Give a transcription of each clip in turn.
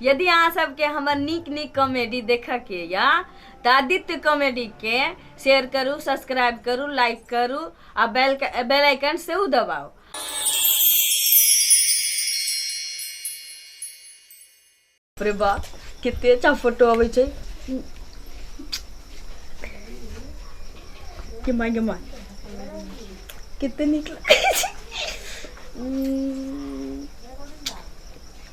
यदि अहाँ सबके हमर नीक नीक कॉमेडी देखऽके यऽ तऽ आदित्य कॉमेडीके शेयर करू सब्सक्राइब करू लाइक करू आ बेल बेल आइकन सेहो दबाउ अरे बा कते अच्छा फोटो अबै छै के माय गे माय कते नीक लागै छै उम्म,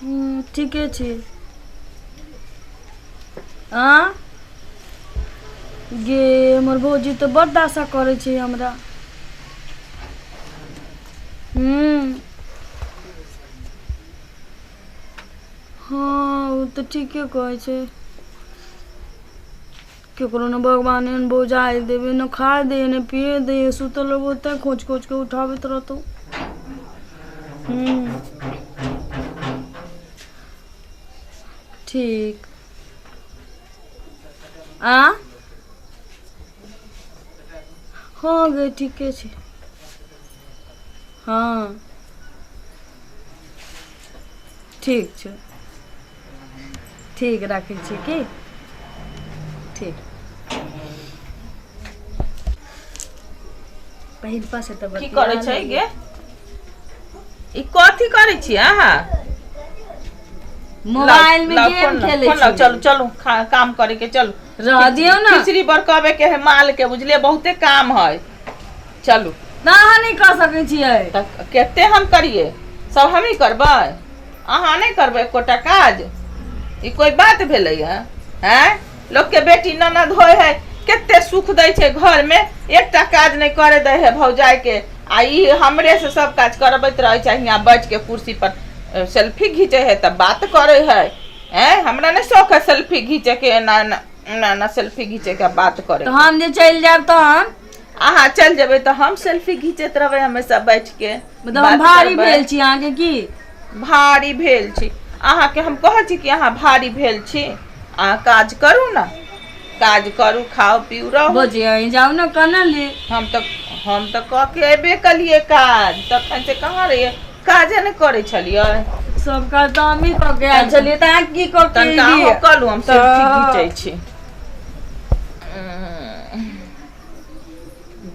हम्म, ठीके छी हाँ गे हमर भौजी तऽ बड्ड आशा करै छै हमरा हम्म, हाँ ओ तऽ ठीके कहै छै केकरो ने भगवान एहन बौजाइ देबै ने खाय दैए ने पिए दैए सुतल रहबो तैँ खोँच खोँच कऽ उठाबैत रहतौ हूँ ठीक आ हँ गे ठीके छै हँ ठीक छै ठीक राखै छी की ठीक पहिलका से तऽ की करै छै गे ई कथी करै छी अहाँ मोबाइल में लाउ, गेम फोन लाउ, खेले फोन लाउ, छी चलू चलू खा- काम करे के चलू रह दियो ना खिचड़ी बरकबे के है माल के बुझलिए बहुते काम है चलू ना अहाँ नहीं कर सके छियै तऽ कते हम करिए सब हमही करबै अहाँ नहि करबै एकोटा काज ई कोइ बात भेलैए आँय लोकके बेटी ननद होइ है कते सुख दै छै घरमे एकटा काज नहि करे दै है भौजाइके आ ई हमरे से सब काज करबैत रहै छै हियाँ बैठ के कुर्सी पर सेल्फी घीचे है तऽ बात करे है आँय हमरा नहि शौक है सेल्फी घीचे के एना एना एना एना सेल्फी घीचे के बात करे तऽ हम जे चलि जायब तहन अहाँ चल जेबै तऽ हम सेल्फी घिचैत रहबै हमेशा बैठ के मतलब हम भारी भेल छी अहाँ के की भारी भेल छी अहाँ के हम कहै छी कि अहाँ भारी भेल छी अहाँ काज करू ने काज करू खाओ पीऊ रहू बोझिए जाऊ ने कना ले हम तऽ हम तऽ कह के एबे कलिए काज तखन से कहाँ रहिए काजे ने करे छलिए सब काज तऽ हमही कऽ के आयल छलियै तऽ अहाँ की कऽ के तनिका अहाँ एलियै? कलू हम सेल्फी तऽ- घिचै छी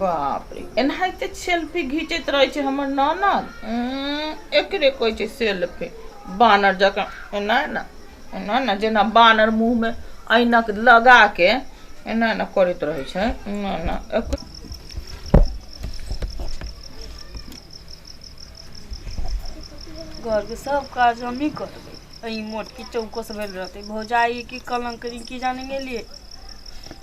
बाप रे एनाहिते सेल्फी घिचैत रहै छै हमर ननद एकरे कहै छै सेल्फी बानर जकाँ एना एना एना एना जेना बानर मुँहमे ऐनक लगाके एना एना करैत रहै छै एना एना घरके सब काज हमही करबै एहि मोटकी चौकस भेल रहतै भौजाइके कलङ्क की जाने गेलियै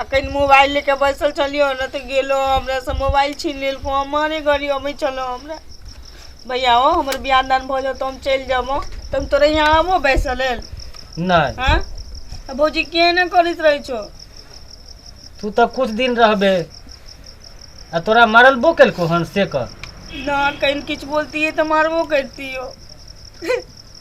अखन मोबाइल ले के बैसल छलियो ने तो गेलो हमरा से मोबाइल छीन लेलको हम मारे घड़ी अबै छलो हमरा भैया ओ हमर बियाह दान भऽ जाओ तो हम चलि जाबो तो हम तोरे यहाँ आबो बैसल लेल नहीं हाँ आ भौजी किए ने करैत रहै छो तू तो कुछ दिन रहबे आ तोरा मरलबो केलको हन से कर ना कहीं किछु बोलतियै तऽ मारबो करतियो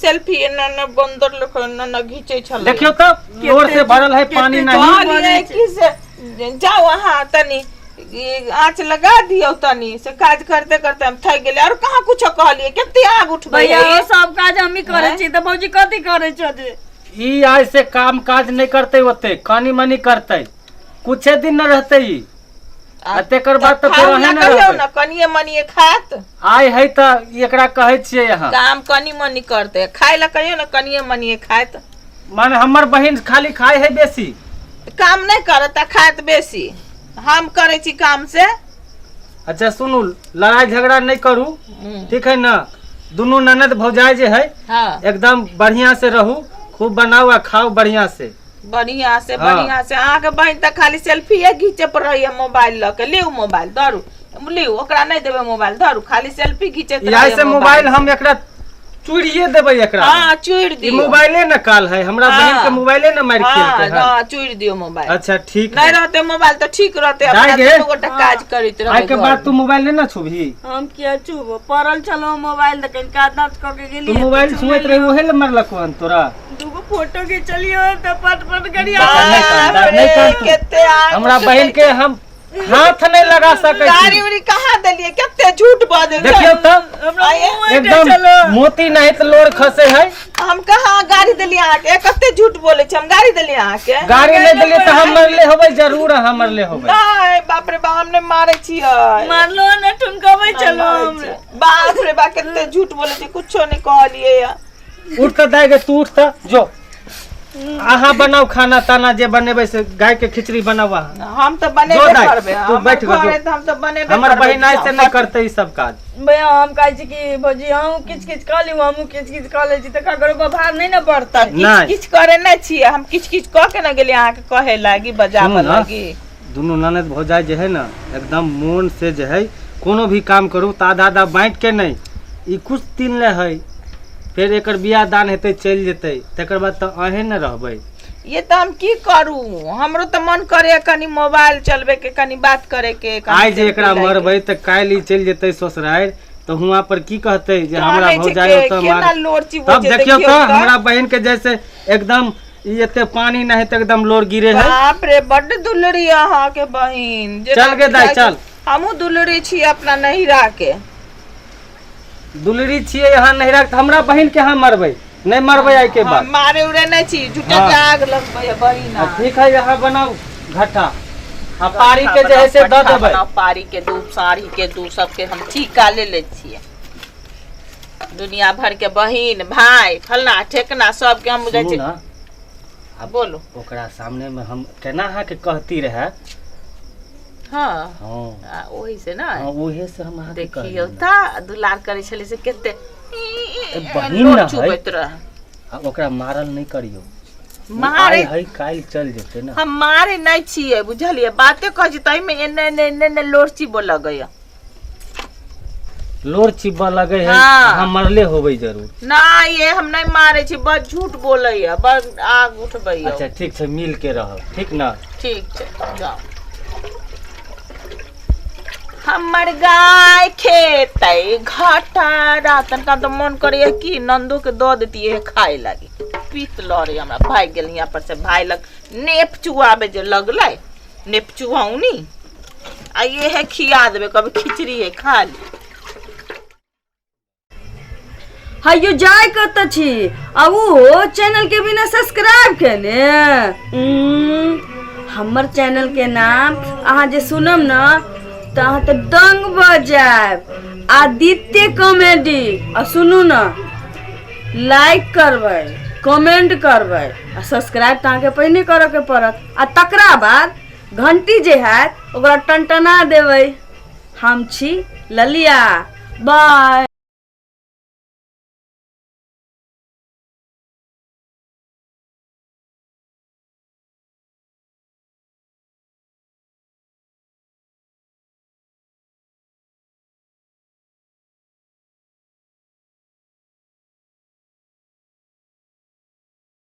सेल्फी एना न बंदर लोग एना न घीचे छल देखियो तो जोर से भरल है पानी नहीं पानी है कि से जाओ अहाँ तनी ई आँच लगा दियो तनी से काज करते करते हम थक गेले और कहाँ कुछ कहलिए कते आग उठबे भैया है? ओ सब काज हमही करै छी तऽ भौजी कथी करै छौ जे ई आज से काम काज नहीं करते होते कानी मनी करते कुछ दिन न रहते ई आ तेकर बाद तऽ फेर खाउ अहें ना ने कहियौ रहबै। ना कनिए मनिए खात आय है तऽ ई एकरा कहै छियै अहाँ काम कनी मनी करते खाय ला कहियौ ना कनिए मनिए खात माने हमर बहिन खाली खाय है बेसी काम नहीं करत आ खात बेसी हम करे छी काम से अच्छा सुनू लड़ाई झगड़ा नहीं करू हम्म, ठीक है ना दुनू ननद भौजाई जे है हाँ एकदम बढ़िया से रहू खूब बनाओ आ खाओ बढ़िया से बढ़िया से हाँ। बढ़िया से अहाँ के बहन तक खाली सेल्फीए घीचे पर रही है मोबाइल ल के लियो मोबाइल धरू लियो ओकरा नहीं देबे मोबाइल धरू खाली सेल्फी घीचे यही से मोबाइल हम एकरा चूड़िए देबै एकरा हां चूड़ दियो मोबाइले न काल है हमरा हाँ। बहन के मोबाइले न मार के हां हां चूड़ दियो मोबाइल अच्छा ठीक नहीं रहते मोबाइल तो ठीक रहते अपना दोनों गोटा हाँ। काज करित रहबे आई के बाद तू मोबाइल न छुबी हम किया छुबो परल चलो मोबाइल त कहीं का दांत क के गेली तू मोबाइल छुएत रही ओहे ल मरलक तोरा दूगो फोटो खिंचलियो त पट पट करिया दादा, नहीं कान, दादा, नहीं कान तू। केते आग हमरा बहन के हम हाथ नहीं लगा सकै गाड़ी छी उड़ी कहाँ देलिए केते झूठ बाजे देखियो त हमरा आये, मुंह में एकदम चलो मोती नहीं त लोर खसे है हम कहाँ गाड़ी देलिए अहाँ के कते झूठ बोले छी हम गाड़ी देलिए अहाँ के गाड़ी नहीं देलिए त हम मरले होबै जरूर हम मरले होबै नहीं बाप रे बाप हमने मारे छी मारलो न ठुनकबै चलो हमरा बाप रे बाप केते झूठ बोले छी कुछो नहीं कहलिए या उठ तऽ दाय गे तू उठ तऽ जो अहाँ बनाउ खाना ताना जे बनेबै से गाय के खिचड़ी बनाउ अहाँ हम तो जो बनेबे दाय, करबे तू हमर बैठ घर गो, है जो। तो हम तो बनेबे हमर करबे। बहिन आज से नहीं करते ई सब काज भैया हम कहै छी कि भौजी अहूँ किच किच कऽ लिउ हमहूँ किच किच कऽ लै छी तऽ ककरो पर भार नहि ने पड़तै नहि। किछ किछ करे नहि छियै हम किछ किछ कऽ के ने गेलियै अहाँके कहे लागी बजाबऽ सुनू ने। लागी दुनू ननद भौजाइ जे हइ ने एकदम मोन से जे हइ कोनो भी काम करू तऽ आधा आधा बाँटि के नहि ई किछु दिन लए हइ फेर एकर बियाह दान हेतै चलि जेतै तकर बाद तऽ अहें ने रहबै ये तऽ हम की करू हमरो तऽ मन करे कनी मोबाइल चलबे के कनी बात करे के कनी आइ जे सेल्फी एकरा लाइक के। मरबै तऽ काल्हि ई चलि जेतै ससुरारि तऽ हुआं पर की कहतै जे हमरा कहै छै भौजाइ के- ओतऽ केना मार लोर चिबो तब छै, देखियौ देखियौ तऽ तऽ। हमरा बहिन के जैसे एकदम ई एते पानी नहीं तो एकदम लोर गिरे है बाप रे बड दुलरी अहा के बहिन जे चल गे दाई चल हमू दुलरी छी अपना नहिरा के दुलरी छी यहाँ नहिरा के हमरा बहिन के यहाँ मरबे नहीं मरबे आई के बाद मारे उरे नहीं छी झूठे हाँ। आग लगबे बहिन हाँ, ठीक है यहाँ बनाओ घटा आ पारी के जैसे दे देबे पारी के दू साड़ी के दू सबके हम ठीक ले ले छिए दुनिया भर के बहिन भाई फलना ठेकना सबके हम बुझै सुनू छी ना आ बोलू ओकरा सामने में हम केना अहाँके कहती रहे हँ हँ आ, ओही से ना हँ, उहे से हम अहाँके देखियो कहलियै ना। ता दुलार करे छले से केते बहिन लोर ना है। चुबैत रह आ ओकरा मारल नहीं करियो उ मारे आइ है काल्हि चल जेते ना हम मारे नहीं छिए बुझलिए बाते कह छी तई में एने एने एने एने लोरची बोल गया लोर चिब्बा लगे है हाँ। हम मरले होबे जरूर ना ये हम नहीं मारे छी बस झूठ बोले है बस आग उठबे है अच्छा ठीक छै मिल के रह ठीक ना ठीक छै जाओ हमर गाय खेते घटारा तनका तो मन करे है कि नंदो के दो देती है खाए लगी पीत लड़े हमरा भाग गेल यहाँ पर से भाई लग नेप चुआबे जे लगले नेपचुआउनी आ ये है खिया देबे कभी खिचड़ी है खा ले हयो जाय कत छी आ ओहो चैनल के बिना सब्सक्राइब केने उम्म, हमर चैनल के नाम अहाँ जे सुनम न त अहाँ त दंग भ जायब आदित्य कॉमेडी आ सुनू न लाइक करबै कमेंट करबै आ सब्सक्राइब त अहाँके पहिने करऽ के पड़त आ तकरा बाद घंटी जे हैत ओकरा टनटना देबै हम छी ललिया बाय